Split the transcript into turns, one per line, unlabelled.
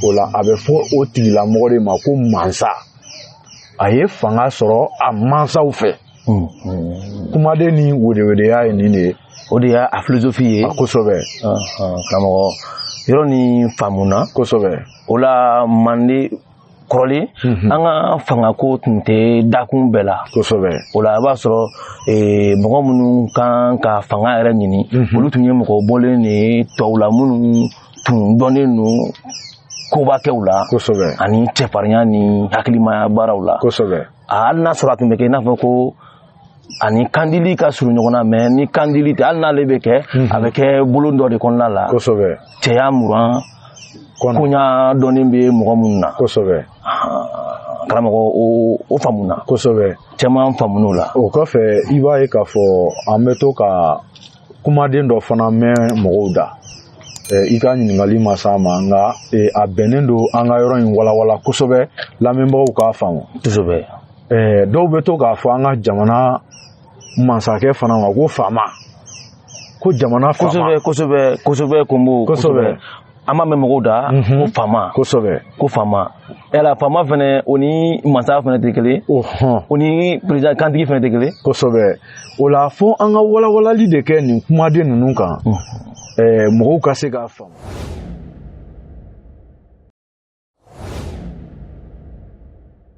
o la a bɛ fɔ o tigilamɔgɔ de ma ko mansa a ye fanga sɔrɔ a mansaw fɛ kumaden nin wedewedeya ye nin de ye o de y'a filozofi
ye kosɛbɛ
karamɔgɔ
yɔrɔ nin faamuna kosɛbɛ o la mande kɔrɔlen mhm. an ka fangako tun tɛ dakun bɛɛ la kosɛbɛ o la i b'a
sɔrɔ
eh, mɔgɔ minnu kan ka fanga yɛrɛ ɲini mhm. olu tun ye mɔgɔ bɔlen de ye tɔw la minnu tun dɔnnen don koba kɛw la kosɛbɛ
ani cɛfarinya
ni hakilimaya baaraw la kosɛbɛ hali n'a
sɔrɔ a tun bɛ
kɛ i n'a fɔ ko a ni kandili ka surun ɲɔgɔn na mɛ ni kandili tɛ hali n'ale bɛ kɛ mhm. a bɛ kɛ bolon dɔ de kɔnɔna la kosɛbɛ
cɛya
muran koɲa dɔnnen bɛ mɔgɔ minnu na kosɛbɛ karamɔgɔ o faamuna kosɛbɛ caman
faamuna o la
o kɔfɛ i b'a
ye k'a fɔ an bɛ to ka kumaden dɔ fana mɛn mɔgɔw da i ka ɲininkali ma s'a ma nka a bɛnnen don an ka yɔrɔ in walawala kosɛbɛ lamɛnbagaw k'a faamu kosɛbɛ
dɔw
bɛ to k'a fɔ an ka jamana mansakɛ fana ma ko faama ko jamana faama kosɛbɛ kosɛbɛ kosɛbɛ
kosɛbɛ an b'a mɛn mɔgɔw da ko faama kosɛbɛ ko faama yala faama fɛnɛ o ni mansa fɛnɛ tɛ kelen o ni perezida kantigi fɛnɛ tɛ kelen kosɛbɛ o
la fo an ka walawalali de kɛ nin kumaden ninnu kan mɔgɔw ka se k'a faamu